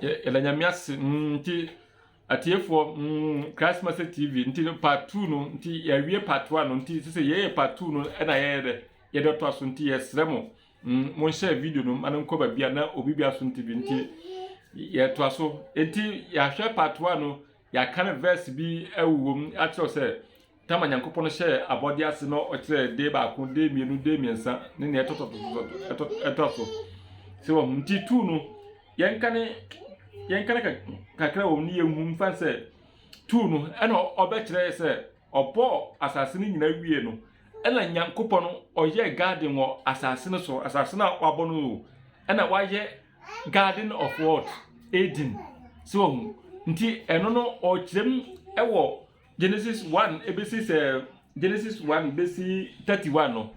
Yɛda Nyame ase nti atiefoɔ Christ Master TV nti no part two no nti yɛawie part one no nti sɛ yɛyɛ part two no ɛna yɛyɛ dɛ yɛde ɔtɔ aso nti yɛsrɛ mo monhyɛ video no ma no nkɔ baabi a na obi bi aso nti bi nti yɛto aso nti yɛahwɛ part one no Yɛakan vɛɛse bi wɔ mu akyerɛ wo sɛ tam a Nyankopɔn hyɛɛ abɔde ase no ɔkyerɛɛ day baako, day mmienu, day mmiɛnsa ne nea ɛtɔ ɛtɔ ɛtɔ so. Sɛ wɔn nti tu no yɛnka ne yɛnka ne kakra wɔ mu ne yɛnhu mfa sɛ tu no ɛna ɔbɛkyerɛ sɛ ɔbɔɔ asase no nyinaa wie no ɛna Nyankopɔn ɔyɛɛ garden wɔ asase no so asase no a wabɔ no o ɛna wayɛ garden of what eden so wɔn mu nti ɛno no ɔkyerɛ mu ɛwɔ genesis one ebesi sɛ genesis one besi thirty one no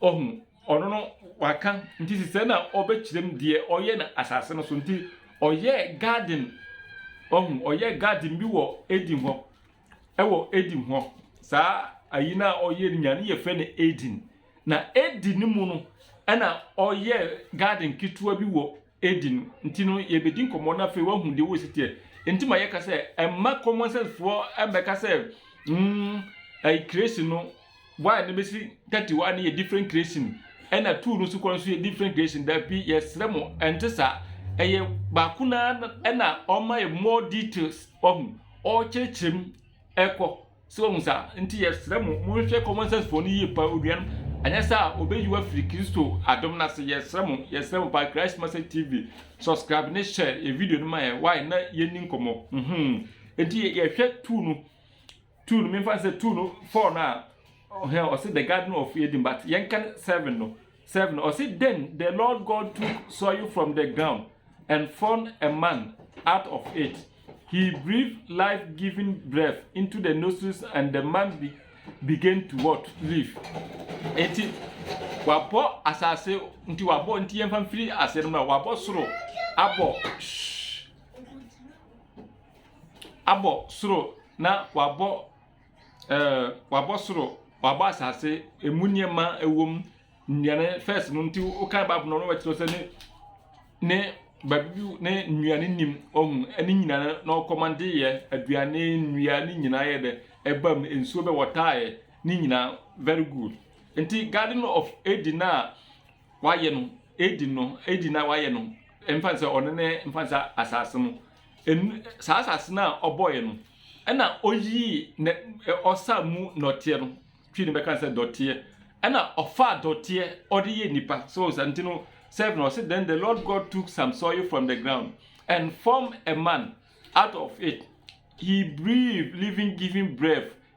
ɔhu ɔno no waka nti sisɛ na ɔbɛkyerɛ mu deɛ ɔyɛ na asase no so nti ɔyɛ garden ɔhu ɔyɛ garden bi wɔ eden hɔ ɛwɔ eden hɔ saa ayi na ɔyɛ no nyane yɛ fɛ no eden. Na Eden no mu no na ɔyɛɛ garden ketewa bi wɔ Eden nti no yɛbɛdi nkɔmmɔ na afei woahu deɛ wɔsi teɛ nti ma yɛka sɛ ɛma common sense foɔ ɛmmɛka sɛ mm ɛyi creation no why no bɛsi thirty one no yɛ different creation ɛna two no nso kɔ nso yɛ different creation dabi yɛsrɛ mo ɛnte saa ɛyɛ baako na ɛna ɔma yɛ more details ɔho ɔkyerɛkyerɛ mu ɛkɔ so ahu saa. Enti yɛsrɛ mo, monhwɛ common sense foɔ no yie paa onuanom, anyɛ saa a ɔbɛyi wo afiri Kristo adom no ase. Yɛsrɛ mo, yɛsrɛ mo paa, Christ Message TV, subscribe ne share yɛ video no ma yɛn, why na yɛnni nkɔmmɔ. Mhmm. Enti yɛhwɛ tool no, tool no, memfa no sɛ tool no, four no a, hɛn, ɔse the garden of Eden, but yɛnka no seven no, Seven, ɔse, Then the Lord God took soil from the ground and formed a man out of it. He breathed life-giving breath into the nostrils and the man be, began to what? Live. Enti wabɔ asase nti wabɔ nti yɛn fan firi aseɛ no mu a wabɔ soro abɔ shh abɔ soro na wabɔ ɛɛ wabɔ soro, wabɔ asase, emu nneɛma wɔ mu, nnuane fɛs no nti wokan bible no na wɔkyerɛ sɛ ne ne baabi bi ne nnuane nim ɔhu ɛne nyinaa na ɔkɔmande yɛ aduane nnua ne nyinaa yɛ dɛ ɛba mu nsuo bɛ wɔtaayɛ ne nyinaa very good nti garden of edi na wayɛ no edi no edi na wayɛ no mfa sɛ ɔno ne mfa sɛ asase no. Ɛn, saa asase no a ɔbɔeɛ no, ɛna ɔyii nɛ, ɔsaa mu nɔteɛ no, twi no bɛka no sɛ dɔteɛ, ɛna ɔfaa dɔteɛ ɔde yɛ nnipa. So saa nti no, seven no, ɔse then the Lord God took some soil from the ground and formed a man out of it, he breathed living giving breath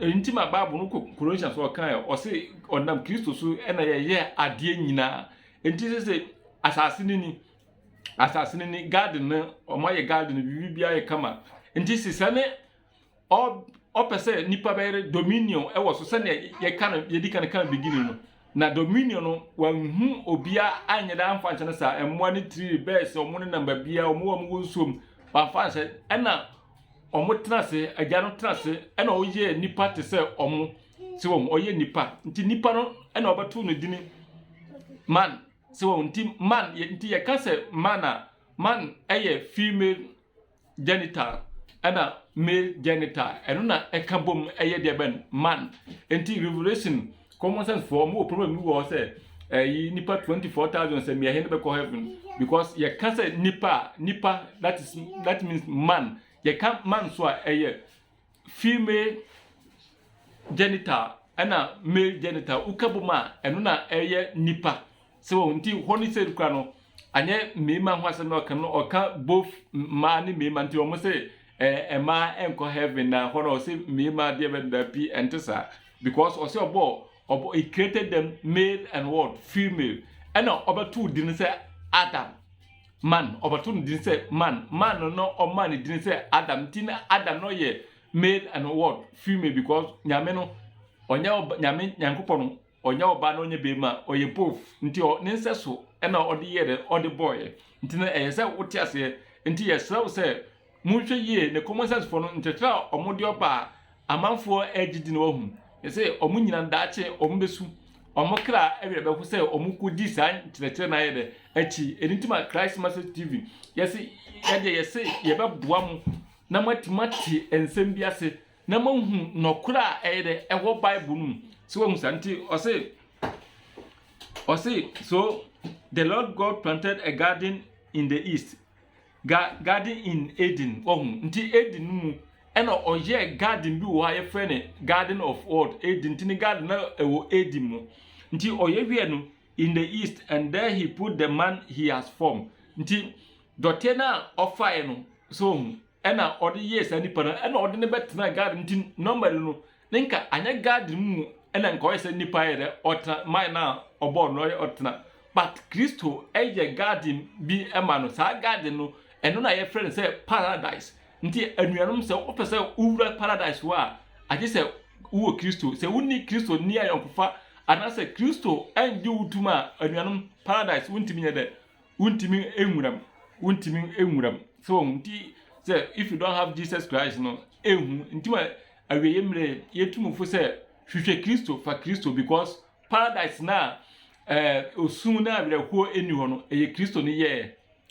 Eyi nti ma Bible no kɔ Colossians hɔ ɔkae a, ɔse ɔnam Kristo so na yɛyɛ adeɛ nyinaa. Nti sɛ sɛ asase no ni, asase no ni, garden no, wɔayɛ garden no, biribi biara yɛ kama. Nti sɛ sɛ ne ɔpɛ sɛ nipa bɛyɛ dominion wɔ so sɛdeɛ yɛka no yɛdi kan kan beginning no na dominion no wanhu obia anyɛ dɛ amfa nhyɛ no saa mmoa ne tiri bɛɛ sɛ ɔmo ne nam baabiara ɔmo a ɔmo wɔ nsuom wamfa nhyɛ ɛna Wɔtena ase, Agya no tena ase na ɔyɛɛ nnipa te sɛ wɔn. Sɛ wɔn, ɔyɛ nnipa. Nti nnipa no na ɔbɛto no dini man. Sɛ wɔn, nti man, nti yɛka sɛ man a, man yɛ female genital ɛna male genital. Ɛno na ɛka bom ɛyɛ deɛ bɛn? Man. Nti Revelation Common sense foɔ ɔmo wɔ problem bi wɔ hɔ sɛ ɛyi eh, nipa twenty four thousand sɛ mmiɛnhe ne bɛkɔ heaven because yɛka sɛ nipa nipa that is that means man yɛka man so a ɛyɛ female genital ɛna male genital woka bom a ɛno na ɛyɛ nipa. So wahu? Nti hɔ no sɛ kura no, anyɛ mmarima ho asɛm na ɔka no, ɔka both mmaa ne mmarima. Nti wɔn sɛ ɛɛ mmaa ɛnkɔ heaven na hɔ no ɔsɛ mmarima deɛ bɛ da pi ɛnte saa because ɔsɛ ɔbɔ ɔbɔ he created them male and what female ɛna ɔbɛto din sɛ Adam man ɔbɛto no din sɛ man man no na ɔma ne din sɛ Adam nti na Adam no yɛ male and what female because nyame no ɔnyɛ ɔba nyame nyankopɔn no Ɔnyɛ ɔbaa na ɔnyɛ barima, ɔyɛ both nti ɔ ne nsɛso ɛna ɔde yɛɛ dɛ ɔde bɔɔɛ nti no ɛyɛ sɛ wote aseɛ nti yɛsrɛ wo sɛ monhwɛ yie ne common sense foɔ no nkyerɛkyerɛ a ɔmo de ɔba a amanfoɔ ɛɛgye di no wahu sɛ ɔmo nyina daakye ɔmo bɛsu ɔmo kra ɛwerɛ bɛho sɛ ɔmo kɔ di saa nkyerɛkyerɛ no ayɛ dɛ akyi ɛno nti ma Christ Message TV yɛse yɛdeɛ yɛse yɛbɛboa mo na moatumi ate nsɛm bi ase na moahu nɔkorɛ a ɛyɛ dɛ ɛwɔ bible no mu so wahu saa nti ɔse ɔse so the lord god planted a garden in the east ga garden in eden wahu nti eden no mu ɛna ɔyɛɛ garden bi wɔ hɔ a yɛfrɛ no garden of world eden nti ne garden na ɛwɔ eden mu nti ɔyɛ wiɛ no in the east and there he put the man he has formed nti dɔteɛ no a ɔfaeɛ no so wahu na ɔde yɛɛ saa nipa no ɛna ɔde no bɛtenaa garden nti normally no ne nka anyɛ garden no mu ɛna nka ɔyɛ sɛ nipa yɛ dɛ ɔtena man no a ɔbɔɔ no ɔyɛ ɔtena but kristo ɛyɛ garden bi ɛma no saa garden no ɛno na yɛfrɛ no sɛ paradise nti anuanom sɛ wopɛ sɛ wowura paradise hɔ a agye sɛ wowɔ kristo sɛ wonni kristo nni ayɔnkofa anaasɛ kristo ɛngye wo tom a anuanom paradise wontumi nyɛ dɛ wontumi nwura mu, wontumi nwura mu. So wɔn nti sɛ if you don't have Jesus Christ no, ehu nti ma awieeɛ mmerɛ yɛtu mu fo sɛ hwehwɛ Kristo, fa Kristo because paradise no a ɛɛ osun na awerɛhoɔ nni hɔ no, ɛyɛ Kristo no yɛɛ.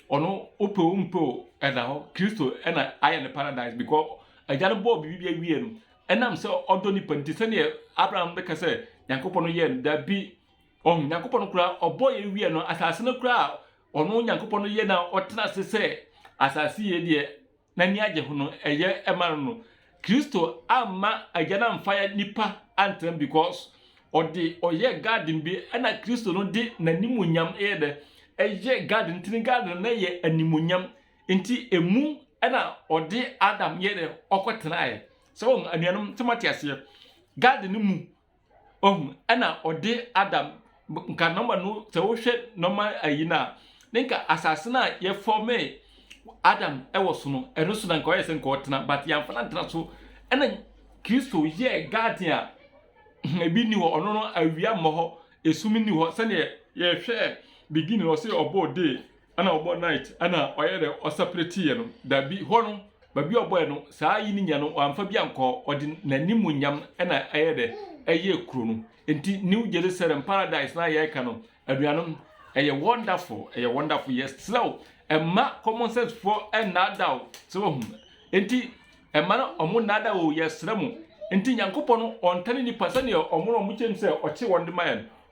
Ɔno wopɛ o wompɛ o ɛda hɔ. Kristo ɛna ayɛ no paradise because agya no bɔɔ biribi bi awie no, ɛnam sɛ ɔdɔ nipa nti sɛdeɛ Abraham bɛka sɛ Nyankopɔn no yɛɛ no, dabi Ɔho Nyankopɔn no koraa ɔbɔɔ yɛ wiɛ no asase no koraa a ɔno Nyankopɔn no yɛ na ɔtena ase sɛ asase yɛ deɛ n'ani agye ho no ɛyɛ ɛma no no Kristo amma agya no amfa yɛ nipa antena because ɔde ɔyɛ garden bi ɛna Kristo no de n'animuonyam ɛyɛ dɛ ɛyɛ garden nti ne garden no yɛ animuonyam nti emu ɛna ɔde Adam yɛ dɛ ɔkɔ tenaeɛ sɛ wɔn anuanom sɛ mo ate aseɛ garden no mu Wahu? Ɛna ɔde Adam, nka nɔma no, sɛ wohwɛ nɔma ayi no a, ne nka asase no a yɛfɔmee Adam wɔ so no, ɛno so na nka ɔyɛ sɛ nka ɔtena, but yɛamfa no antena so. Ɛna Kristo yɛɛ garden a ebi nni hɔ, ɔno no awia mmɔ hɔ, esum nni hɔ, sɛdeɛ yɛhwɛɛ beginning no, ɔse ɔbɔɔ day, Ɛna ɔbɔ night ɛna ɔyɛ dɛ ɔsɛprɛte yɛ no dabi hɔ no baabi a ɔbɔɛ no saa yi ne nya no wamfa bi ankɔ ɔde n'animuonyam ɛna ɛyɛ dɛ ɛyɛ kuro no nti New Jerusalem paradise na yɛ ka no anuanom ɛyɛ wonderful ɛyɛ wonderful yɛ srɛw ɛma common sense foɔ ɛnaadaw sɛ wahu nti ɛma no ɔmo naada o yɛ srɛ mo nti nyankopɔ no ɔntane nipa sɛdeɛ ɔmo no ɔmo kyɛm sɛ ɔkye wɔn de ma yɛn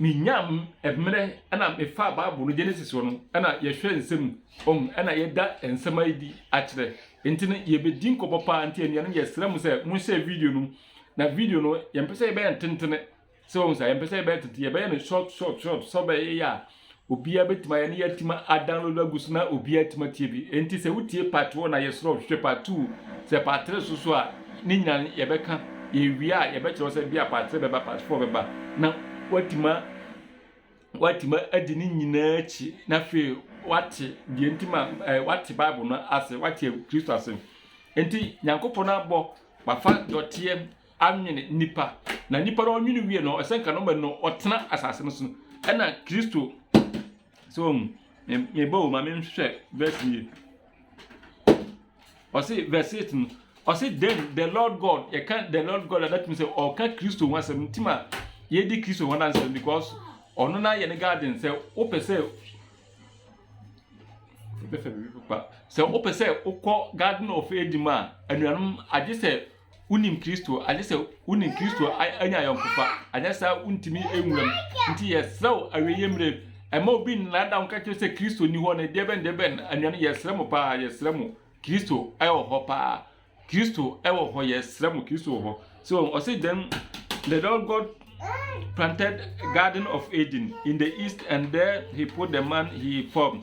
menyaam mmerɛ na mefaa Bible no Genesis hɔ no na yɛhwɛ nsɛm ɔm na yɛda nsɛm adi akyerɛ nti no yɛbɛdi nkɔbɔ paa nti anuanom yɛsrɛ mo sɛ monhyɛ video no na video no yɛmpɛ sɛ yɛbɛyɛ ntentene sɛ wɔn sɛ yɛmpɛ sɛ yɛbɛyɛ tete yɛbɛyɛ no short short short sɛ bɛyɛ a Obiara bɛtumi ayɛ na yɛatumi adownload agu so na obiara atumi atie bi. Enti sɛ wotie part one a yɛsrɛ wo hwehwɛ part two. Sɛ part three so so a ne nyinaa no yɛbɛka. Yɛwie a yɛbɛkyerɛ wo sɛ bi a part three bɛba part four bɛba na woatumi woatumi adi ne nyinaa akyi na afei woate deɛ nti ma eh, woate Bible no ase, woate Kristo ase. Enti Nyankopɔn abɔ wafa dɔteɛ anwene nnipa, na nnipa no ɔnwene wie no, ɛsɛ nka no ma no ɔtena asase no so, ɛna Kristo, sɛ wɔn mu, meba o ma menhwɛ verse nie, ɔse verse 8 no, ɔse then the Lord God, yɛka the Lord God a datumi sɛ ɔka Kristo ho asɛm, nti ma yɛdi Kristo ho anansɛm because ɔno na yɛ ne garden sɛ wopɛ sɛ sɛ wopɛ sɛ wokɔ garden of Eden mu a anuanom agye sɛ Wonim Kristo, agye sɛ wonim Kristo anya ayɔnkofa, anyɛ saa wontumi nwura mu. Nti yɛsrɛ wo awieeɛ mmerɛ, ɛma obi nnaadaa wo nka kyerɛ sɛ Kristo nni hɔ no, deɛbɛn deɛbɛn, anuanom yɛsrɛ mo paa, yɛsrɛ mo, Kristo wɔ hɔ paa, Kristo wɔ hɔ, yɛsrɛ mo, Kristo wɔ hɔ. So, ɔse then the Lord God planted garden of Eden in the east and there he put the man he formed.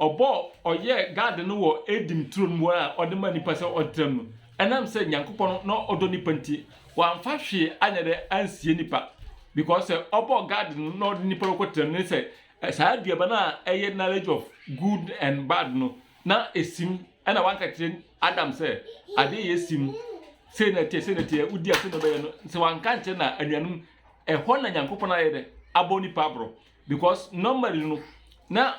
Ɔbɔɔ ɔyɛɛ Gad no wɔ Eden turo no mu a ɔde maa nipa sɛ ɔntra mu no. Ɛnam sɛ Nyankopɔn na ɔdɔ nipa nti, wamfa hwee anyɛ dɛ ansie nipa. Because sɛ ɔbɔɔ Gad no na ɔde nipa bɛkɔ tra mu ne sɛ saa aduaba no a ɛyɛ knowledge of good and bad no na esim ɛna wanka kyerɛ Adam sɛ adeɛ yɛ sim sei na ɛteɛ sei na ɛteɛ wodi a sei na ɔbɛyɛ no sɛ wanka nkyerɛ na anuanom ɛhɔ na Nyankopɔn ayɛ dɛ abɔ nipa aborɔ. Because normally no na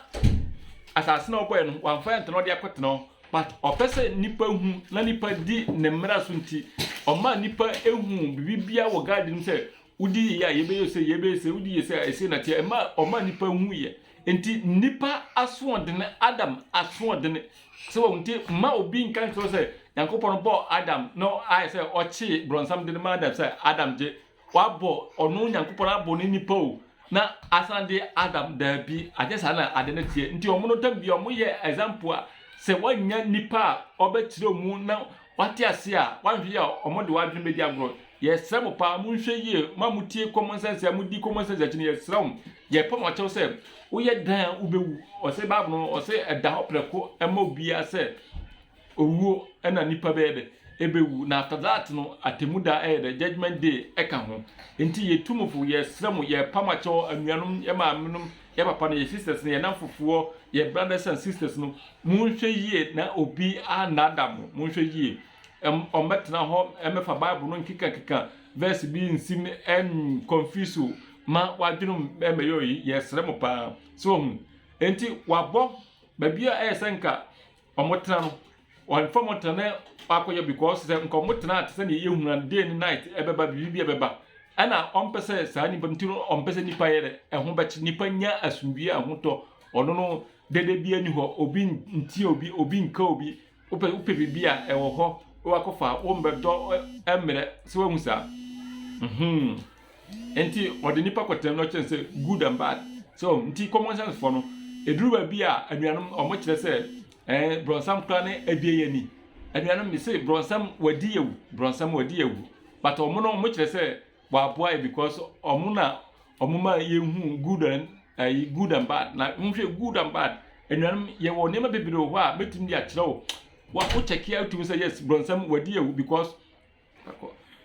asase na ɔbɔɛ no wamfa ɛntena ɔde akɔtena hɔ but ɔpɛ sɛ nipa hu na nipa di ne mmara so nti ɔma nipa ehu bibibia wɔ garden mu sɛ wodi yie a yɛbɛyɛ sɛ yɛbɛyɛ sɛ wodi yie sɛ a ɛsɛ na teɛ ɛma ɔma nipa hu yɛ nti nipa asoɔdene adam asoɔdene sɛ wɔn nti mma obi nka nkyerɛ sɛ nyankopɔn bɔ adam na ayɛ sɛ ɔkye brɔnsam de no ma adam sɛ adam gye Wabɔ ɔno Nyankopɔn abɔ ne nipa o na asan de Adam daabi anyɛ saa na ade no teɛ nti ɔmo no tam bia ɔmo yɛ example a sɛ wanya nipa a ɔbɛkyerɛ ɔmo na wate ase a wanhwɛ yɛ a ɔmo de wadwene bɛdi agorɔ yɛsrɛ mo paa mo nhwɛ yie mo a mo tie common sense a mo di common sense akyi no yɛsrɛ mo yɛpɛ mo akyɛw sɛ woyɛ dan a wobɛwu ɔsɛ bible no ɔsɛ ɛda hɔ prɛko ɛma obiara sɛ Owuo na nnipa bɛyɛ dɛ? Ɛbɛwu. Na after that no, atemmu da ɛyɛ dɛ? Judgement day ɛka ho. Nti yɛ tumfoɔ, yɛsrɛ mo, yɛpa mo akyɛ hɔ, anuanom, yɛ maame nom, yɛ papa nom, yɛ sisters nom, yɛ nnamfofoɔ, yɛ brothers and sisters nom, monhwɛ yie na obi annaadaa mo, monhwɛ yie. Ɛm, ɔmmɛtena hɔ mmɛfa Bible no nkekankeka verse bi nsi mu ɛn confuse wo ma w'adwene mu ɛmmɛyɛ oyi, yɛsrɛ mo paa. So wahu? Nti wɔabɔ baabi a ɛyɛ sɛ nka Ɔmo tena no ɔmo nfa ɔmo tena na wakɔ yɛ because sɛ nka ɔmo tena te sɛ nea yɛhunu a day ne night ɛbɛba biribi bi ɛbɛba ɛna ɔmo pɛ sɛ saa nipa no ti no ɔmo pɛ sɛ nipa yɛ dɛ ɛho bɛkye nipa nya asomdwie a ɛho tɔ ɔno no dɛdɛ bi ɛni hɔ obi ntia obi obi nka obi wopɛ wopɛ biribi a ɛwɔ hɔ wakɔ fa wɔn bɛ dɔ ɛmmerɛ sɛ wahu saa mhm. Nti wɔde nnipa kɔtenam na wɔkyerɛ no sɛ good and bad. So wɔn nti common sense foɔ no ɛduru baabi a anuanom wɔn kyerɛ sɛ ɛɛ brɔnsam koraa ne abie yɛ ni. Anuanom mi se brɔnsam wadi yɛ wu brɔnsam wadi yɛ wu but wɔn no wɔn kyerɛ sɛ waboa yɛ because wɔn na wɔn ma yɛ hu good and ɛyi good and bad na wɔn hwɛ good and bad anuanom yɛ wɔ nneɛma bebree wɔ hɔ a mɛtumi de akyerɛ wo wa wo kyɛkea wotumi sɛ yes brɔnsam wadi yɛ wu because.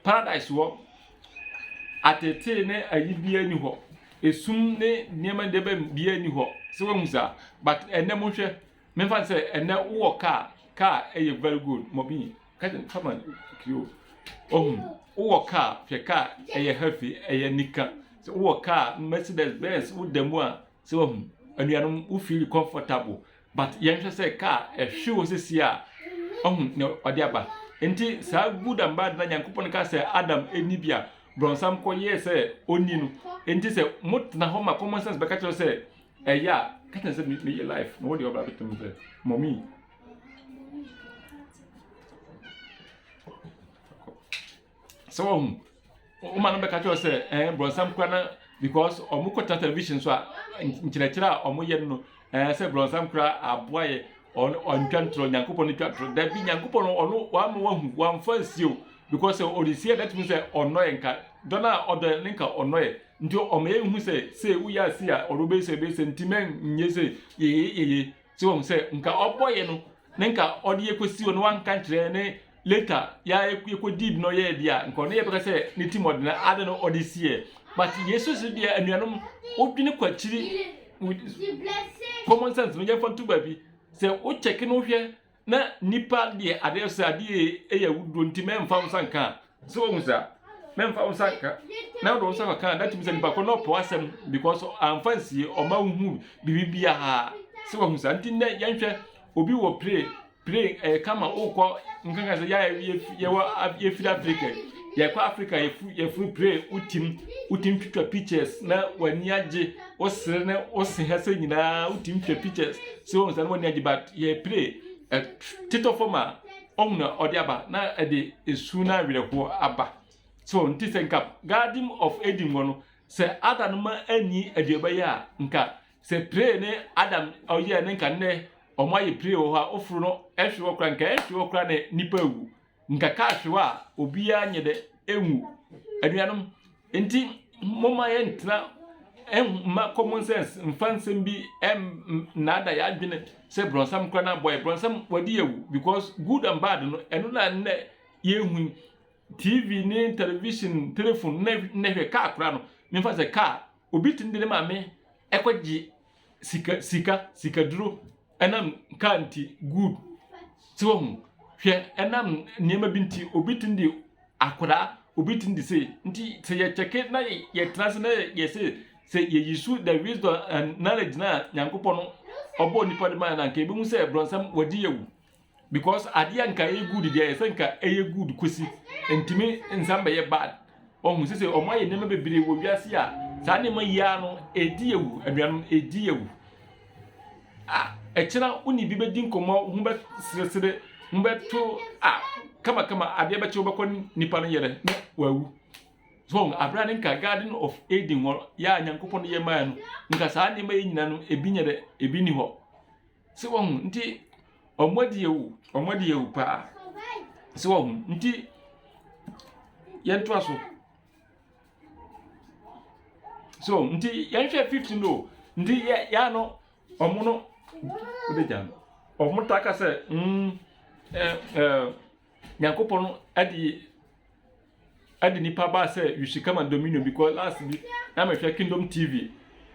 Paradise hɔ, ateetee ne ayi biara nni hɔ. Esum ne nneɛma deɛ bɛn biara nni hɔ. Sɛ woahu saa? But ɛnnɛ monhwɛ, memfa no sɛ ɛnnɛ wowɔ kaa, kaa yɛ very good. Mɔmi, cousin, fama kiri o. Ohu, wowɔ kaa, hwɛ kaa, ɛyɛ heavy, ɛyɛ anika. Sɛ wowɔ kaa, Mercedes, Benz, woda mu a, So wahu? Anuanom, wo feel comfortable but yɛnhwɛ sɛ kaa ɛhwe wɔ sisi a ɔhu na ɔde aba. Nti saa good and bad na Nyankopɔn ka sɛ Adam ɛni bi a brɔnsam kɔ yɛɛ sɛ ɔnni no. Nti sɛ mo tena hɔ ma common sense bɛka kyerɛ sɛ ɛyɛ a ka kyerɛ sɛ me yɛ life na wɔde ɔbra bɛtena mu sɛ mommy. So wahu? Wo maame bɛka kyerɛ wo sɛ ɛɛ brɔnsam kura na because wɔn kɔ television so a nkyerɛkyerɛ a wɔn yɛ no ɛɛ sɛ brɔnsam kura aboa yɛ ɔno ɔntwa ntorɔ nyankopɔn no twa ntorɔ dabi nyankopɔn no ɔno wama wahu wamfa nsi o because sɛ ɔde si a that means sɛ ɔnɔ yɛ nka dɔn a ɔdɔ yɛ ne nka ɔnɔ yɛ nti ɔma yɛ hu sɛ sɛ woyɛ ase a ɔno bɛyɛ sɛ bɛyɛ sɛ nti mɛ nyɛ sɛ yɛyɛ yɛyɛ So wahu sɛ nka ɔbɔeɛ no na nka ɔde yɛ kɔsi hɔ na wanka nkyerɛ ne later ya yɛkɔ did no yɛɛ deɛ a nka ɔno yɛbɛka sɛ ne tim ɔdena ade no ɔde siɛ but yesu so deɛ anuanom wodwene kɔ akyiri common sense no yɛmfa nto baabi sɛ wokyɛke no hwɛ Na nnipa deɛ adeɛ sɛ adeɛ yɛ awuduo nti mɛmfa wo nsa nka sɛ wɔn sa mɛmfa wo nsa nka na wɔde wo nsa kɔka that means nipa kɔ na ɔpɔ asɛm because anfa nsie ɔma wohu biribi biara sɛ wɔn sa nti nnɛ yɛnhwɛ obi wɔ play play ɛɛ eh, kama wokɔ nkankan sɛ yɛ yɛwɔ yɛfiri africa yɛkɔ africa yɛfuru play wotim wotim twitwa pictures na w'ani agye. wo sere ne wo se ha sɛ nyinaa wotumi twa pictures sɛ wɔn sɛ ne wɔn agye but yɛ play ɛtetɔ fam a ɔhun na ɔde aba na ɛde esu na awerɛhoɔ aba so nti sɛ nka garden of eden wɔ no sɛ adam no ma anyi aduaba yi a nka sɛ play ne adam ɔyɛ ne nka nnɛ wɔn ayɛ play wɔ hɔ a oforo no ɛhwe wɔ kora nka ɛhwe wɔ kora ne nipa awu. Nkakahwew a obiara nyɛ dɛ enwu. Anuanom, ntsi momma yɛntsena ɛ mma common sense mmfa nsɛm bi ɛm nnaadaa yɛn adwen sɛ brɔnsam koraa na abɔ yɛn. Brɔnsam wɔadi awu because good and bad no ɛno na nnɛ yɛrehu yi. TV ne television, telephone, nnɛ nnɛ hwɛ kaa koraa no, memfa sɛ kaa, obi tumi de ne maame ɛkɔgye sika sika sikaduro ɛnam car nti good so wahu hwɛ ɛnam nneɛma bi nti obi tumi de akwadaa obi tumi de sei nti sɛ yɛ kyɛke na yɛ tena ase na yɛ sei sɛ yɛ use the wisdom and knowledge na nyankopɔn no ɔbɔɔ nipa de maa yɛ no a nka ebehu sɛ bronsam wagye yɛ awu. Because adeɛ a nka ɛyɛ good deɛ ɛsɛ nka ɛyɛ good kosi ntumi nsan bɛyɛ bad ɔhu sese wɔn ayɛ nneɛma bebree wɔ wiase a saa nneɛma yi ara no ɛdi awu anuanom ɛdi awu a ɛkyena wo ne bi bɛdi nkɔmmɔ ho bɛ seresere ho bɛto a kamakama adeɛ bɛkye wobɛkɔ nipa no yere na wawu so abira ne nka garden of Eden hɔ yɛ a nyankopɔn yɛ maa no nka saa nneɛma yi nyina no ebi nyɛ dɛ ebi ni hɔ. So wɔn nti wɔn adi awu wɔn adi awu paa so wɔn nti yɛn to aso so wɔn nti yɛn hwɛ fifty no nti yɛ yɛ ano wɔn no o de gya no wɔn ta ka sɛ mm ɛɛ ɛɛ. Nyankopɔn no ɛde ɛde nipa baa sɛ you should come and dominion because last bi na mehwɛ kingdom tv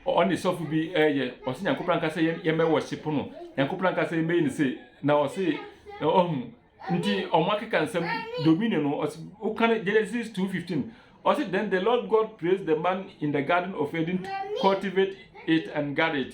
ɔne sɔfo bi ɛyɛ ɔsɛ nyankopɔn anka sɛ yɛn bɛ worship no nyankopɔn anka sɛ yɛn bɛyɛ ne sɛ na ɔsɛ ɔhu nti ɔmo akeka nsɛm dominion no ɔsɛ woka no genesis 2:15 ɔsɛ then the lord god praised the man in the garden of eden to cultivate it and guard it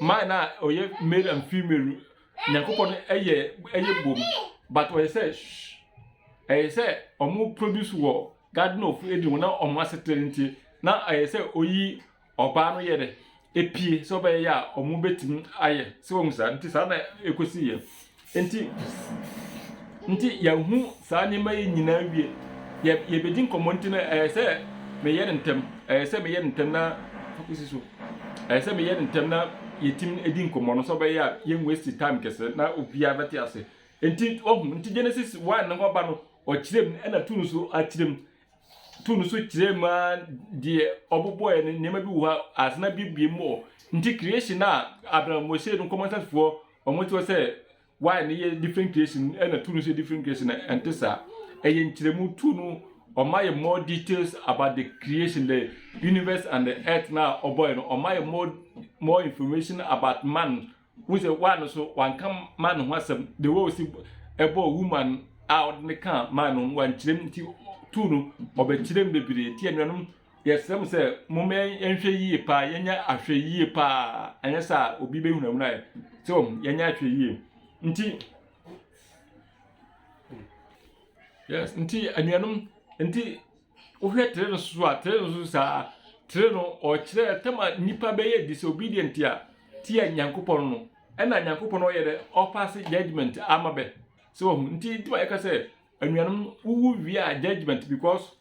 man na ɔyɛ male and female nyankopɔn no ɛyɛ ɛyɛ bom but ɔyɛ sɛ shh ɛyɛ sɛ ɔmo produce wɔ garden of eden wɔ na ɔmo asetena nti na ɛyɛ sɛ oyi ɔbaa no yɛ dɛ epie sɛ ɔbɛyɛ a ɔmo betumi ayɛ sɛ wɔn saa nti saa na ekosi yɛ Enti, enti yɛahu saa nneɛma yi nyinaa wie. Yɛ, yɛbɛdi nkɔmmɔ nti no, ɛyɛ sɛ meyɛ no ntɛm. Ɛyɛ sɛ meyɛ no ntɛm na fakosi so. Ɛyɛ sɛ meyɛ no ntɛm na yɛtim di nkɔmmɔ no sɛ ɔbɛyɛ a yɛnwasti time kɛse na obiara bɛte ase. Enti, wahu, nti Genesis 1 no ho ba no, ɔkyerɛ mu, ɛna tu no so akyerɛ mu. Tu no so kyerɛ mu ara deɛ ɔbobɔɛ no, nneɛma bi wɔ hɔ a, ase no abiebie mu wɔ hɔ. Nti creation a Abraham Moshe no nkɔmmɔ nsasefoɔ Wɔn kyerɛ sɛ wire no yɛ different creation ɛna tool no nso yɛ different creation na ɛnte saa. Ɛyɛ nkyerɛmu tool no ɔma yɛ more details about the creation the universe and the earth na ɔbɔe no ɔma yɛ more more information about man wohu sɛ wire no so wanka man ho asɛm the way osi ɛbɔɔ woman a ɔde ne kaa man no wankyerɛm nti tool no ɔbɛkyerɛm bebree nti anuanom Yɛsrɛ mo sɛ momma yɛnhwɛ yie paa, yɛnyɛ ahwɛyie paa, ɛnyɛ sɛ a obi bɛhunahuna yɛ. So yɛnyɛ ahwɛyie. Nti, yes, nti anuanom, nti wohwɛ tere no so a, tere no so saa, tere no ɔkyerɛ tɛma nipa bɛyɛ disobedient a, tia Nyankopɔn no, ɛna Nyankopɔn no ɔyɛ dɛ ɔpaase judgment ama bɛ. So nti nti ma yɛka sɛ anuanom wowu wie a judgment because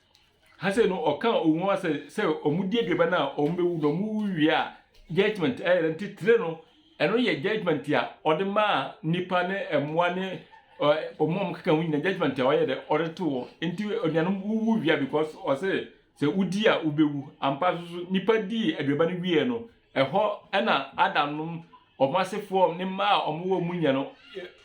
Ha sei no, ɔka owu ho asɛ sɛ wɔdi aduaba no a wɔbɛwu na wɔwu wie a judgment ɛyɛ dɛ nti tire no ɛno yɛ judgment a ɔde maa nipa ne mmoa ne wɔn a wɔkeka ho nyina judgment a ɔyɛ dɛ ɔde to wɔ nti anuanom wuwu wie a because ɔsɛ sɛ wodi a wobɛwu ampa so so nipa dii aduaba no wie no Ɛhɔ na Adam nom wɔn asefoɔ, ne mma a wɔwɔ wɔn mu nya no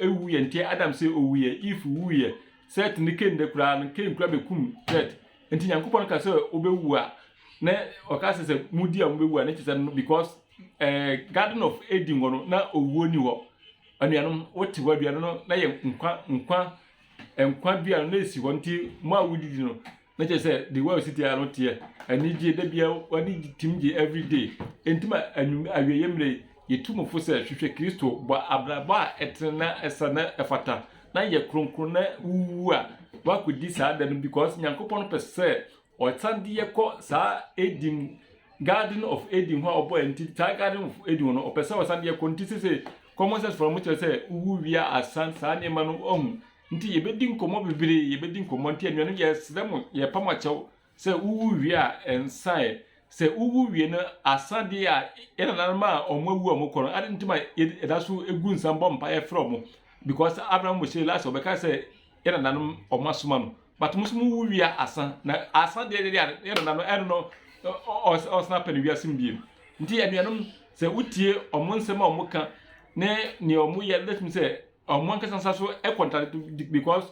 wuiɛ. Nti Adam se ɔwuiɛ, Eve wuiɛ, Seth ne Cain de koraa no, Cain koraa bɛkum Seth. Nti Nyankopɔn ka sɛ wobɛwu a, na ɔka sɛ sɛ modi a mobɛwu a, na kyerɛ sɛ no because eh, Garden of Eden hɔ no, na owuo ni hɔ. Anuanom, wote hɔ aduane no, na yɛ nkwa, nkwa, nkwa dua no na esi hɔ. Nti mo a wodidi no, Na kyerɛ sɛ the way a ɔsi teɛ no teɛ anigye da bia wani tim gye every day nti ma anwum awieɛ mmerɛ yi yɛtu mo fo sɛ hwehwɛ Kristo bɔ abrabɔ a ɛtene na ɛsɛ na ɛfata na yɛ kronkron na wuwu a wakɔdi saa da no because Nyankopɔn pɛ sɛ ɔsan de yɛ kɔ saa Eden Garden of Eden hɔ a ɔbɔ yɛn nti saa Garden of Eden hɔ no ɔpɛ sɛ ɔsan de yɛ kɔ nti sese common sense fɔlɔ mo kyerɛ sɛ wuwu wie a asan saa nneɛma no ɔhu Nti yɛbɛdi nkɔmmɔ bebree, yɛbɛdi nkɔmmɔ. Nti anuanom yɛsrɛ mo, yɛrepa mo akyɛw sɛ wowu wie a, nsa ɛ. Sɛ wowu wie no, asa deɛ a, yɛn nananom a wɔawu a wɔkɔ no, adɛn nti ma yɛda so gu nsa bɔ mpaeɛ frɛ wɔn? Because Abraham, Mose, Elisha, wɔbɛka sɛ yɛn nananom wɔasoma no. But mo nso mowu wie a, asa. Na asa deɛ deɛ a, yɛn nananom, ɛno no, wɔsan apɛ no wiase mu bio. Nti anuanom, sɛ wotie wɔn nsɛm a wɔka ne nea wɔyɛ no, wobɛtumi sɛ Ɔmo ankasa nsa so kɔntradikte bikɔs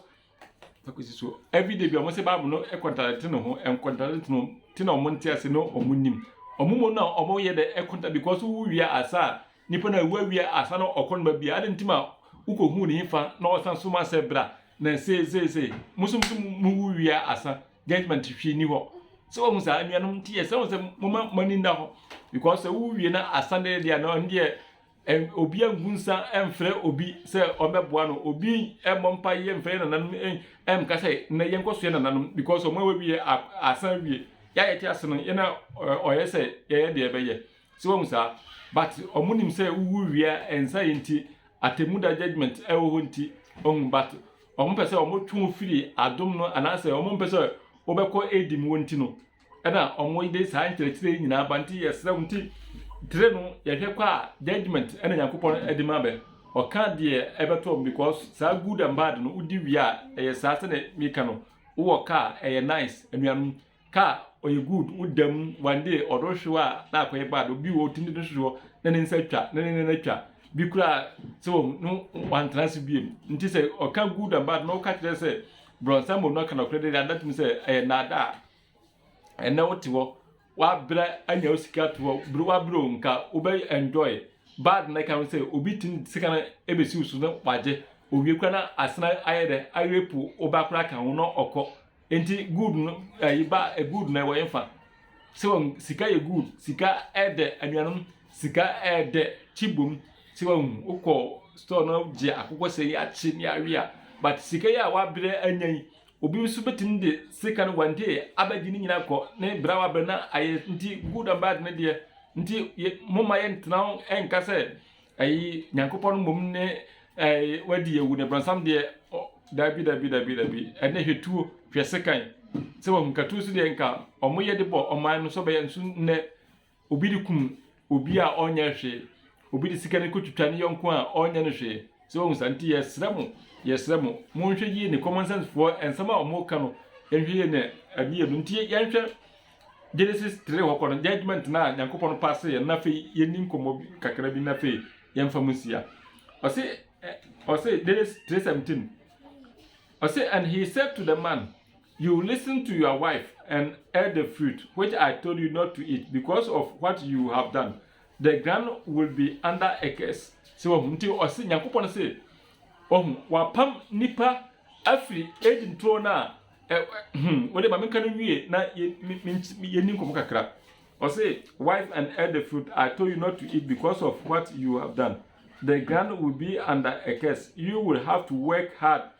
akosi so ɛvri de bi a ɔmo se baabol no kɔntradikte ne ho ɛnkɔntradikte no ti na ɔmo nte ase na ɔmo nnim ɔmo mo na ɔmo yɛ dɛ ɛkɔnta bikɔs wowu wie asa a nipa no awu awie asa na ɔkɔ noma bia adan nti ma wokɔ hu ne fa na ɔsan so ma sɛ bra na sei sei sei mo so mo wu wie asa judgment hwii ni hɔ sɛ wɔn saa anuanom nti yɛ sɛ wɔn sɛ mo ma mo ani nda hɔ bikɔs sɛ wowu wie na asa deɛ deɛ na ɔno deɛ Ɛn, obi angu nsa mfrɛ obi sɛ ɔmmɛboa no, obi mmɔ mpaeɛ mfrɛ yɛn nananom ɛn, ɛnka sɛ nnɛ yɛnkɔ so yɛ nananom because wɔn a wɔawie a, asan awie. Yɛ a yɛte ase no, yɛn a ɛ, ɔyɛ sɛ yɛyɛ deɛ yɛbɛyɛ. So wahu saa? But wɔnim sɛ wowu wie a, ɛnsa yɛ nti, atemmuda judgement wɔ hɔ nti, wahu, but wɔpɛ sɛ wɔtwe wo firi adom no anaasɛ wɔmpɛ sɛ wobɛkɔ adi mu wɔ nti no, ɛna wɔn de saa nkyerɛkyerɛ yi nyinaa ba nti yɛsrɛ wo nti tire no yɛhwɛ kɔ a judgement ɛna nyankopɔn ɛde ma bɛ ɔka deɛ ɛbɛtɔ wɔn because saa good and bad no wodi wie a ɛyɛ saa sɛdeɛ meka no wowɔ kaa ɛyɛ nice anuanom kaa ɔyɛ good woda mu one day ɔdɔ hyew a na akɔyɛ bad obi wɔ otim de no hyehyɛ na ne nsa twa na ne nana twa bi koraa sɛ wɔn no wantena ase biem nti sɛ ɔka good and bad na ɔka kyerɛ sɛ Brɔnsam mu no ka nɔkorɛ de ada atom sɛ ɛyɛ nnaadaa. Ɛnnɛ wote hɔ, woabrɛ anya wo sika to hɔ, bere woabrɛ o, nka wobɛ enjoy. Bad na ɛka ho sɛ obi tumi de sika no ebesi wo so na wagye. Owie koraa na asan ayɛ dɛ, arape wo ba koraa ka ho na ɔkɔ. Enti good no, ɛyi ba, good no ɛwɔ yɛn fa. Sɛ wɔn, sika yɛ good, sika ɛdɛ anuanom. Sika ɛyɛ dɛ kye bom sɛ wahu wokɔ store na wogye akokɔ sɛ yi akye ne awe a but sika yi a wabrɛ anya yi obi nso bɛtumi de sika no one day abɛgye ne nyina kɔ ne brɛ a wabrɛ na ayɛ nti good and bad ne deɛ nti momma yɛntena ho ɛnka sɛ ɛyi nyankopɔn mmom ne ɛyi wadi yɛwu ne brɔnsam deɛ dabi dabi dabi dabi ɛnɛ hwɛ tuo hwɛ sekan sɛ wahu katuo so deɛ nka ɔmo yɛ de bɔ ɔman no sɛ ɔbɛyɛ nso nnɛ Obi de kum obi a ɔnyɛ hwee. Obi de sika no kotwitwa ne yɔnko a ɔnyɛ no hwee. So wahu saa? Nti yɛsrɛ mo, yɛsrɛ mo, monhwɛ yie ne common sense foɔ nsɛm a wɔn ka no, yɛnhwɛ yie ne adeɛ no. Nti yɛnhwɛ Genesis three hɔ kɔ no, judgement no a Nyankopɔn paase yɛ no, na afei yɛnni nkɔmmɔ kakra bi na afei yɛmfa mu nsia. Ɔse, ɔse Genesis three seventeen, ɔse and he said to the man, You listen to your wife and ate the fruit which I told you not to eat because of what you have done, the ground will be under a curse. Sɛ wahu nti ɔse Nyankopɔn se ɔhu wapam nipa afiri edi nturo no a hmm wode ma menka no nwie na yɛni nkɔmɔ kakra. Ɔse wife and ate the fruit I told you not to eat because of what you have done. The ground will be under a curse. You will have to work hard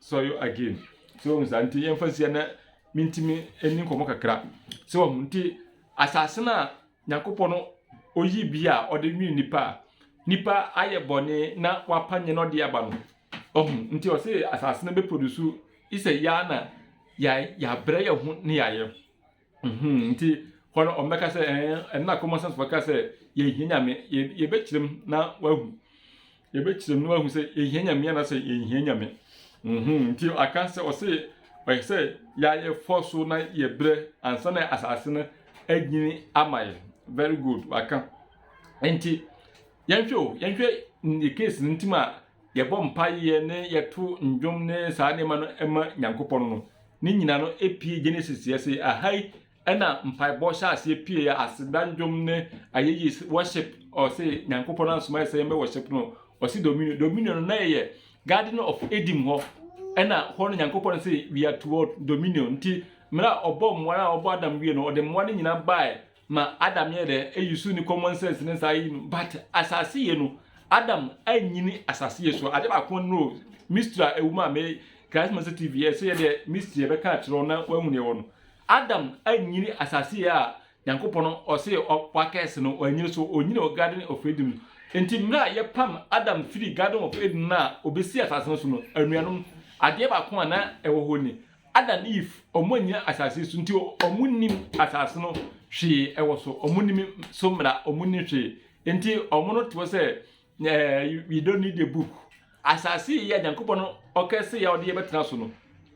sɔre again so wahu saa nti yɛmfa nsia na mentumi ɛni nkɔmmɔ kakra so wahu nti asase no a nyankopɔn no ɔyi bi a ɔde nwene nipa a nipa ayɛ bɔne na wapa nyɛ na ɔde aba no ɔhu nti ɔse asase no bɛproduce isɛ yɛa na yɛabrɛ yɛ ho ne yɛayɛ Mm-hmm, nti hɔ no ɔmbɛka sɛ ɛn, eh, ɛno na common sense fo ka sɛ yɛnhia nyame, yɛbɛkyerɛm na wahu, yɛbɛkyerɛm na wahu sɛ yɛhia nyame anaasɛ yɛnhia nyame. Mm-hmm, nti aka sɛ ɔse ɔyɛ sɛ yɛayɛ fɔ so na yɛbrɛ ansa na asase no agyini ama yɛ. Very good, waka. Nti Yɛnhwɛ o, yɛnhwɛ yɛ case no ntem a yɛbɔ mpaeɛ ne yɛto ndwom ne saa nneɛma no ma Nyankopɔn no, ne nyina no pie Genesis yɛ se aha yi na mpaebɔ hyɛ aseɛ pieɛ, aseda ndwom ne ayɛyie se worship, ɔse Nyankopɔn ansoma yɛ sɛ yɛmbɛ worship no, ɔse dominion, dominion no na ɛyɛ garden of Eden hɔ, ɛna hɔ no Nyankopɔn se we are to what? Dominion, nti mmerɛ a ɔbɔɔ mmoa no a ɔbɔɔ Adam wie no ɔde mmoa no nyina baɛ Ma Adam yɛ dɛ eyi so ne common sense ne saa yi no but asase yɛ no Adam anyini asase yɛ so ade baako no mystery a ɛwɔ mu a me Christ Master TV yɛ sɛ yɛ dɛ mystery ɛbɛka akyerɛ na wahu deɛ wɔ no Adam anyini asase yɛ a Nyankopɔn no ɔse wakɛse no wanyini so onyini wɔ garden of Eden no nti mmerɛ a yɛpam Adam firi garden of Eden no a obɛsi asase no so no anuanom adeɛ baako a na ɛwɔ hɔ ni Adam ne Eve ɔmo annyina asase so nti ɔmo nnim asase no hwee ɛwɔ so ɔmo nnim so mmra ɔmo nnim hwee nti ɔmo no te hɔ sɛ ɛɛ we don't need a book asase yɛ Nyankopɔn no ɔkɛ se yɛ ɔde yɛbɛtena so no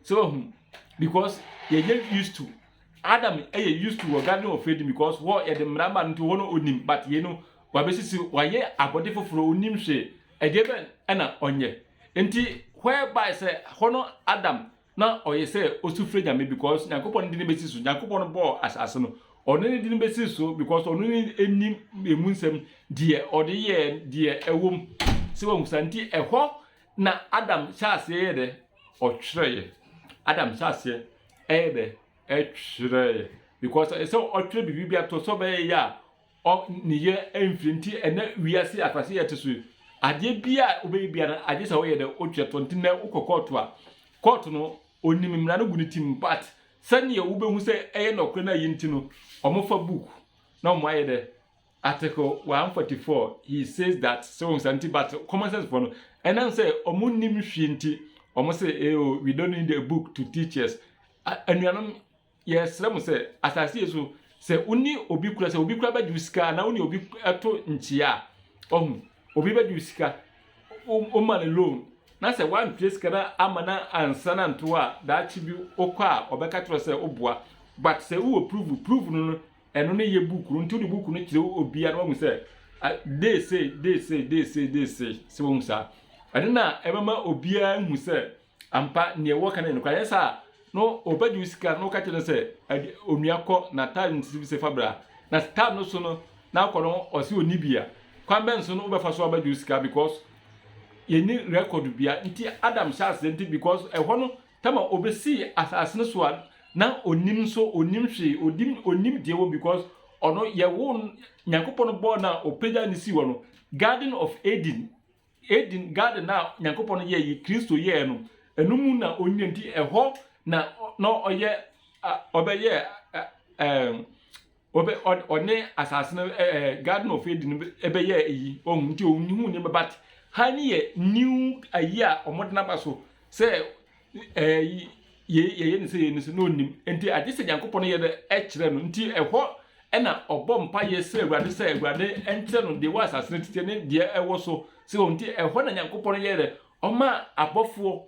sɛ wahu because yɛyɛ used to Adam ɛyɛ used to wɔ garden of Eden because hɔ yɛde mmra ma no nti hɔ no ɔnim but yei no wabɛsisi wayɛ abɔde foforɔ ɔnim hwee Ɛdeɛbɛn na ɔnyɛ? Nti whereby sɛ hɔ no Adam na ɔyɛ sɛ ɔsufrɛ Nyame because Nyankopɔn no dini bɛsi so, Nyankopɔn no bɔɔ asase no, ɔno ne dini bɛsi so because ɔno ne nim ɛmu nsɛm, deɛ ɔde yɛɛ deɛ ɛwom, sɛ wahu saa, nti ɛhɔ na Adam hyɛ aseɛ yɛ dɛ? Ɔtwerɛeɛ, Adam hyɛ aseɛ ɛyɛ dɛ? Ɛtwerɛeɛ, because ɛsɛ ɔtwerɛ biribi bi ato sɛ ɔbɛyɛ yɛ a Ɔ ne yɛ mfiri nti ɛnɛ wiase akurase yɛte so yi adeɛ bia a wobɛyɛ bia no agye sɛ woyɛ dɛ wotwerɛ toɔ nti nɛ wokɔ kɔɔto a kɔɔto no ɔnim mmara no gu ne tim but sɛdeɛ wobɛhu sɛ ɛyɛ nɔkorɛ no ayi nti no ɔmo fa book na ɔmo ayɛ dɛ article 144 he says that sɛ wɔn nti but common sense foɔ no ɛnam sɛ ɔmo nim hwee nti ɔmo sɛ eh, oh, we don't need a book to teach us anuanom Yɛsrɛ mo sɛ, asase yi so, sɛ wo ne obi kura, sɛ obi kura bɛgye wo sika anaa wo ne obi to nkyea a, ɔho, obi bɛgye wo sika, wo ma no loan, na sɛ woantua sika no ama no ansa no anto hɔ a, daakye bi wo kɔ a, ɔbɛka akyerɛ wo sɛ wo boa. But sɛ wowɔ proof, proof no no, ɛno ne yɛ book no, nti wode book no kyerɛ obi a na wahu sɛ, day sei, day sei, day sei, day sei, sɛ wahu saa. Ɛno na ɛbɛma obiara hu sɛ, Ampa, nea ɛwɔ ka no yɛ nokware. Anyɛ saa a, na ɔbɛgye wo sika na woka kyerɛ no sɛ, Ade, onua, kɔ na tar no sisi bi sɛ fa bra. Na sɛ tar no so no na akɔ no ɔse ɔnni bi a, kwan bɛn so na wobɛfa so abɛgye wo sika because yɛnni record biara. Nti Adam hyɛɛ aseɛ nti because ɛhɔ no tam a ɔbɛsii asase no so a na ɔnnim nso, ɔnnim hwee, ɔdim, ɔnnim deɛ wɔ because ɔno yɛwoo no, Nyankopɔn bɔɔ no a ɔpagyaa no sii hɔ no, Garden of Eden, Eden garden a Nyankopɔn yɛe yi, Kristo yɛɛ no, ɛno mu na onyae nti ɛhɔ na na ɔyɛ ɔbɛyɛ ɔbɛ ɔne asase no garden of Eden bɛyɛ eyi ɔhu nti ohun nneɛma but ha ne yɛ new ayi a wɔde n'aba so sɛ Yei yɛyɛ no sɛ yei no nso na ɔnim nti agye sɛ Nyankopɔn yɛ dɛ ɛkyerɛ no nti ɛhɔ ɛna ɔbɔ mpa yɛ srɛ awurade sɛ awurade ɛnkyerɛ no deɛ wɔ asase no titiɛ ne deɛ ɛwɔ so sɛ wɔn nti ɛhɔ na Nyankopɔn yɛ dɛ ɔma abɔfoɔ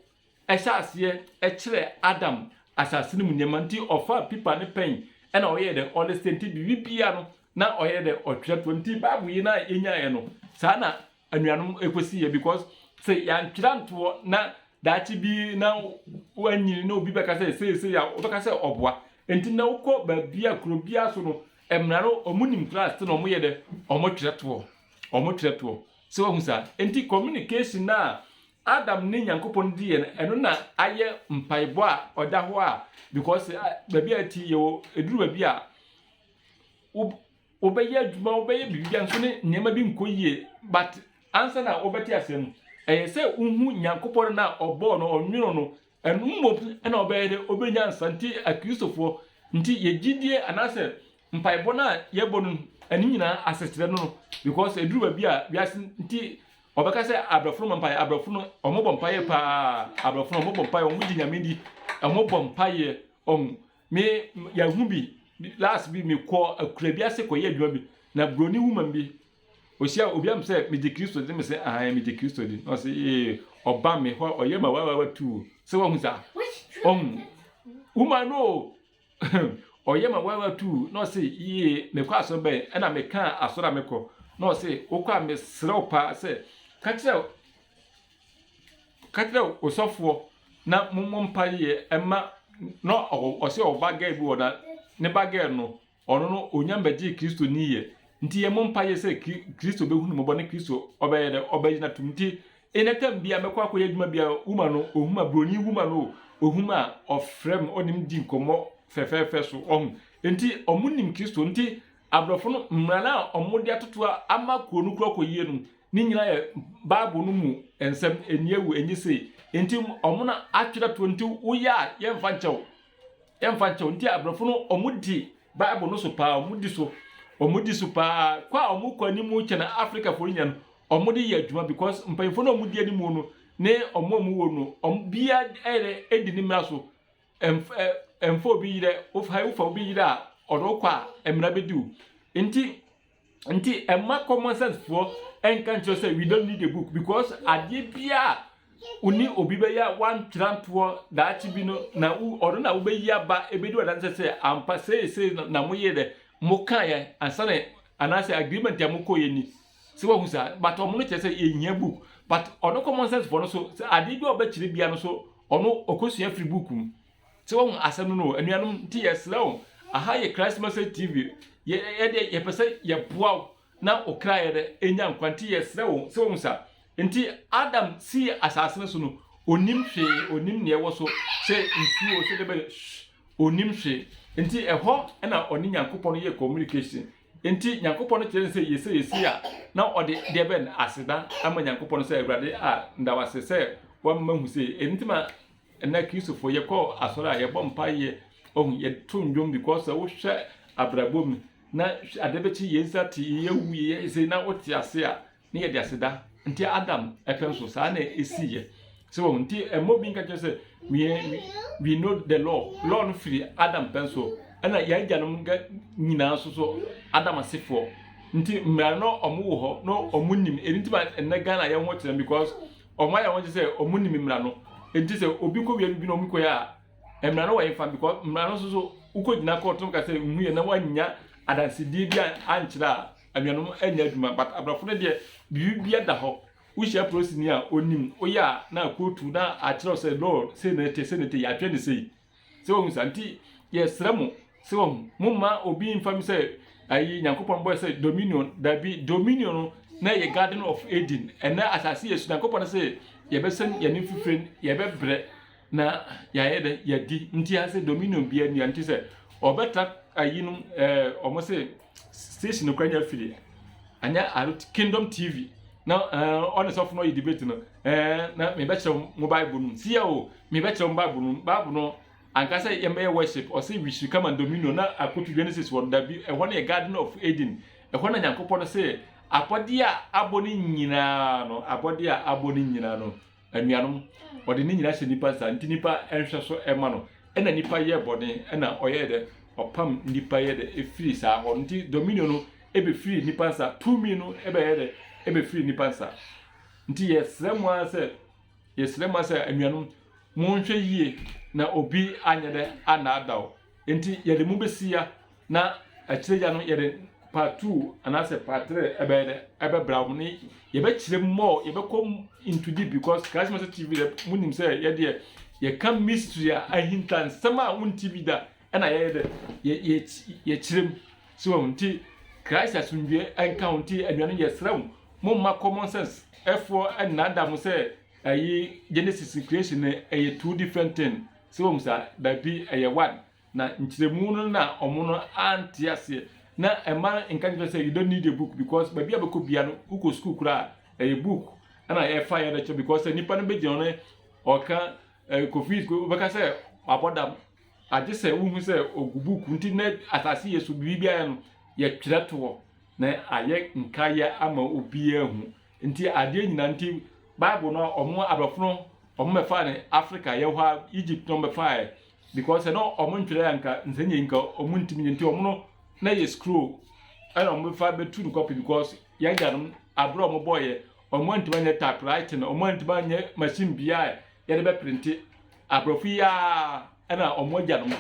ɛhyɛ aseɛ ɛkyerɛ Adam asase no mu nneɛma nti ɔfa pipa ne pɛn ɛna ɔyɛ dɛ ɔlesɛ nti biribi bia no na ɔyɛ dɛ ɔtwerɛ toɔ nti Bible yi na yɛnyaeɛ no saa na anuanom ɛkɔsi yɛ because sɛ yɛantwerɛ antoɔ na daakye bi na wanyini na obi bɛka sɛ sei sei a wobɛka sɛ ɔboa nti na wokɔ baabi a kuro biara so no mmara no ɔmo nim kura ase na ɔmo yɛ dɛ ɔmo twerɛ toɔ ɔmo twerɛ toɔ sɛ wahu saa nti communication no a adam ne nyankopɔn di yɛn ɛno na ayɛ mpaebɔ a ɔda hɔ a because baabi a ti yɛwɔ ɛduru baabi a Wobɛyɛ adwuma, wobɛyɛ biribiara nso ne nneɛma bi nkɔ yie but ansa na wobɛte asɛm no, ɛyɛ sɛ wohu Nyankopɔn no a ɔbɔɔ no, ɔnwonoo no, ɛno mmom na ɔbɛyɛ dɛ, ɔbɛnya nsa. Nti Akristofoɔ, nti yɛ gyidie anaasɛ mpaebɔ no a yɛbɔ no ɛno nyinaa asekyerɛ no no because ɛduru baabi a wiase nti ɔbɛka sɛ abrɔfo no ma mpaeɛ, abrɔfo no ɔmobɔ mpaeɛ paa, abrɔfo no ɔmobɔ mpaeɛ, ɔmogye Nyame di, ɔmobɔ mpaeɛ, ɔhu Me yɛahu bi last bi mekɔ akura bi ase kɔyɛ adwuma bi na buroni woman bi ɔhyia obi am sɛ megye kristo de me sɛ ahan megye kristo di na ɔsɛ ee ɔba me hɔ ɔyɛ ma wawawa tu sɛ wahu saa ɔhu woman no ɔyɛ ma wawawa tu na ɔsɛ yie mekɔ asɔre bɛn ɛna meka asɔre a mekɔ na ɔsɛ wokɔ a mesrɛ wo paa sɛ ka kyerɛ Ka kyerɛ osɔfoɔ na mommɔ mpaeɛ mma na ɔse ɔwɔ ba gɛɛ bi wɔ na ne ba gɛɛ no ɔno no ɔnya mbɛgyee kristo ni yɛ nti yɛ mɔ mpaeɛ sɛ kristo bɛhu no mɔbɔ ne kristo ɔbɛyɛ dɛ ɔbɛgyina tom nti ɛnɛ tam bia mɛkɔ akɔyɛ adwuma bia wuma no ɔhuma broni wuma no ɔhuma a ɔfrɛ m ɔnim di nkɔmmɔ fɛfɛɛfɛ so ɔhu nti ɔmo nim kristo nti Aborɔfo no mmara no a wɔde atoto a ama kurow no kura kɔ yiye no, ne nyinaa yɛ Bible no mu nsɛm, enni awu, enye sei. Enti wɔn na atwerɛ atoɔ nti woyɛ a yɛmfa nkyɛ wo. Yɛmfa nkyɛ wo. Nti aborɔfo no wɔdi Bible no so paa, wɔdi so. Wɔdi so paa. Kɔ a wɔkɔ anim kyɛn Afrikafo no nyina no, wɔde yɛ adwuma because mpanyimfo no a wɔdi anim no ne wɔn a wɔwɔ no, wɔn biara di ne mmara so. Mf ɛ mfa obi yerɛ, wof hai wofa obi yerɛ a, ɔde wo kɔ a, mmara bɛdi wo. Nti, nti ɛmma common sense foɔ nka nkyerɛ sɛ we don't need a book because adeɛ biara a wo ne obi bɛyɛ a woantwerɛ antoɔ daakye bi no na wo ɔno na wobɛyi aba ɛbɛdi wadanseɛ sɛ ampa sei sei na moyɛ dɛ mokaeɛ ansa na anaasɛ agreement a mokɔeɛ ni. sɛ wahu saa but ɔmo no kyerɛ sɛ yɛhia book but ɔno common sense foɔ no so sɛ adeɛ bi a ɔbɛkyerɛ bia no so ɔno ɔkɔsua firi book mu sɛ wahu asɛm no no anuanom nti yɛsrɛ wo aha yɛ christ message tv yɛdeɛ yɛpɛ sɛ yɛboa wo na wo kra yɛ dɛ ɛnya nkwa nti yɛsrɛ wo sɛ wahu saa nti adam sii asase no so no onim hwee onim neɛ ɛwɔ so sɛ nsuo sɛ dɛbɛ onim hwee nti ɛhɔ na ɔne nyankopɔn yɛ communication Enti Nyankopɔn kyerɛɛ no sɛ yɛ sɛ yɛsi a, na ɔde deɛ bɛn? Aseda ama Nyankopɔn sɛ Awurade a meda wo ase sɛ woama mahu sei. Ɛno nti ma ɛnnɛ Kristofo yɛkɔ asɔre a, yɛbɔ mpae yɛ, wahu, yɛto nnwom because sɛ wohwɛ abrabɔ mu na adeɛ bɛkye yɛn nsa te, yɛawu, yɛyɛ sei na wote ase a, Ne yɛde aseda nti Adam ɛpɛn so saa na esi yɛ sɛ wɔn nti ɛmɔ obi nka kyerɛ sɛ we we know the law law no firi Adam pɛn so ɛna yɛn agyanom nyinaa nso so Adam asefoɔ nti mmaa no wɔn wɔ hɔ na wɔn nim ɛni ti ma ɛnɛ Ghana yɛn ho kyerɛ because wɔn ayɛ wɔn sɛ wɔn nim mmara no nti sɛ obi kɔ wia bi na wɔn kɔ yɛ a mmara no wɔ yɛn fa because mmara no nso so wokɔ gyina kɔɔto nka sɛ nhu yɛ na wɔanya adansidie bi ankyerɛ a. Anuanom nyɛ adwuma but abrɔfo no deɛ biribiara da hɔ wohyia polisini a onim woyɛ a na akootu na akyerɛw sɛ law sei na ɛte sei na ɛte yɛatwɛn ne sei sɛ wahu saa nti yɛsrɛ mo sɛ wahu mo mma obi mfa mi sɛ ayi nyankopɔn bɔyɛ sɛ dominion dabi dominion no na ɛyɛ garden of Eden ɛnɛ asase yɛ so nyankopɔn no sɛ yɛbɛsɛn yɛne fifire yɛbɛbrɛ Na yɛayɛ dɛn? Yɛadi. Nti ayɛ sɛ dominion biara nni ha. Nti sɛ wɔbɛtra ayi no ɛɛ wɔn se station no kora nyɛ afiri. Anyɛ aro kingdom TV na ɛɛ ɔne sɔfo no yɛ debate no ɛɛ na mebɛkyerɛ wɔn mo bible no mu. Si yɛ o mebɛkyerɛ wɔn bible no mu. Bible no anka sɛ yɛn bɛyɛ worship ɔse we should come and dominion na akoto Genesis wɔ no dabi ɛhɔ no yɛ garden of Eden ɛhɔ na Nyankopɔn no se abɔdeɛ a abɔ no nyinaa no abɔdeɛ a abɔ no nyinaa no Anuanom, ɔde ne nyina hyɛ nipa nsa, nti nipa nhwɛso ma no. Ɛna nipa yɛɛ bɔne, ɛna ɔyɛɛ dɛ? Ɔpam nipa yɛɛ dɛ? Ɛfiri saa hɔ no, nti dominion no bɛfiri nipa nsa, tumi no bɛyɛɛ dɛ? Ɛbɛfiri nipa nsa. Nti yɛsrɛ mo ara sɛ, yɛsrɛ mo ara sɛ, anuanom, monhwɛ yie na obi anyɛ dɛ annaadaw. Nti yɛde mo bɛsi ya. Na akyire gya no yɛde part two anaasɛ part three ɛbɛyɛ dɛ ɛbɛbra wɔn ne yɛbɛkyerɛ mu more yɛbɛkɔ into deep because christ message tv dɛ mo nim sɛ yɛdeɛ yɛka mystery a ahinta nsɛm a wɔn ti bi da ɛna yɛyɛ dɛ yɛ yɛ yɛkyerɛ mu so wɔn ti christ asundue ɛnka wɔn ti anuanom yɛsrɛ wɔn mo mma common sense ɛfoɔ ɛnanda mo sɛ ɛyi genesis creation ɛyɛ two different thing so wɔn sa baabi ɛyɛ one Na nkyerɛmu no na wɔn no ante aseɛ na ɛma no nka nkyerɛ sɛ you don't need a book because baabi a bɛkɔ bia no wokɔ sukuu koraa a ɛyɛ book ɛna ɛfa yɛ ɛbɛkyerɛ because sɛ nipa no bɛgyina hɔ no ɔka ɛɛ kofi wobɛka sɛ wabɔ dam agye sɛ wohu sɛ ogu book nti na asase yɛ so biribi ayɛ no yɛtwerɛ toɔ na ayɛ nkaeɛ ama obiara hu nti adeɛ nyinaa nti bible no a wɔn aborɔfo no wɔn bɛfa ne africa yɛ hɔ a egypt no wɔn bɛfa yɛ Because sɛ na ɔmo ntwerɛ a nka nsɛnniɛ yi nka ɔmo ntumi nyɛ nti ɔmo no na ɛyɛ scroll ɛna ɔmo bɛfa bɛtu no kɔpi because yɛn agyanom abere a ɔmo bɔɔyɛ ɔmo antumi anyɛ typewriting ɔmo antumi anyɛ machine bia a yɛde bɛ printe aborɔfo yi ara ɛna ɔmo agyanom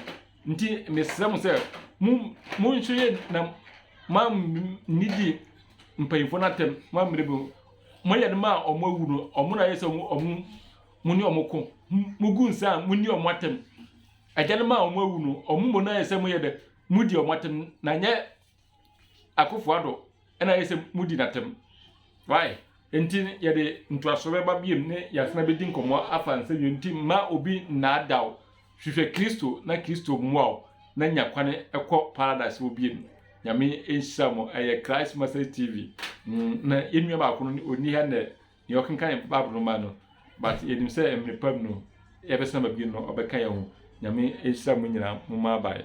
nti mesrɛ mo sɛ mo mo nso yɛ na ma nidi mpanyinfoɔ no atɛm ma mmerɛ bi mo yɛ no ma ɔmo awu no ɔmo na ayɛ sɛ ɔmo ɔmo Mo ne wɔn ko, mugu nsa a, monni wɔn atɛm. Agyanom a wɔawu no, wɔn mu no ayɛ sɛ moyɛ dɛ, mudi wɔn atɛm, na ɛnyɛ Akufo-Addo na ayɛ sɛ mudi n'atɛm. Why? Enti no, yɛde ntoaso bɛba biom ne Yasena bedi nkɔmmɔ afa nsɛnnua nti mma obi nnaadaa wo. Hwehwɛ Kristo na Kristo mmoa wo na nya kwane kɔ Paradise hɔ biom. Nyame nhyira mo. Ɛyɛ Christ Message TV. Na yɛn nua baako no, ɔnni ha nnɛ. Nea ɔkenkan Bible no ma no, but yɛnim sɛ mmere pa mu no yɛbɛsan abɛbie no ɔbɛka yɛn ho. Nyame nhyira mo nyinaa mo mmabae.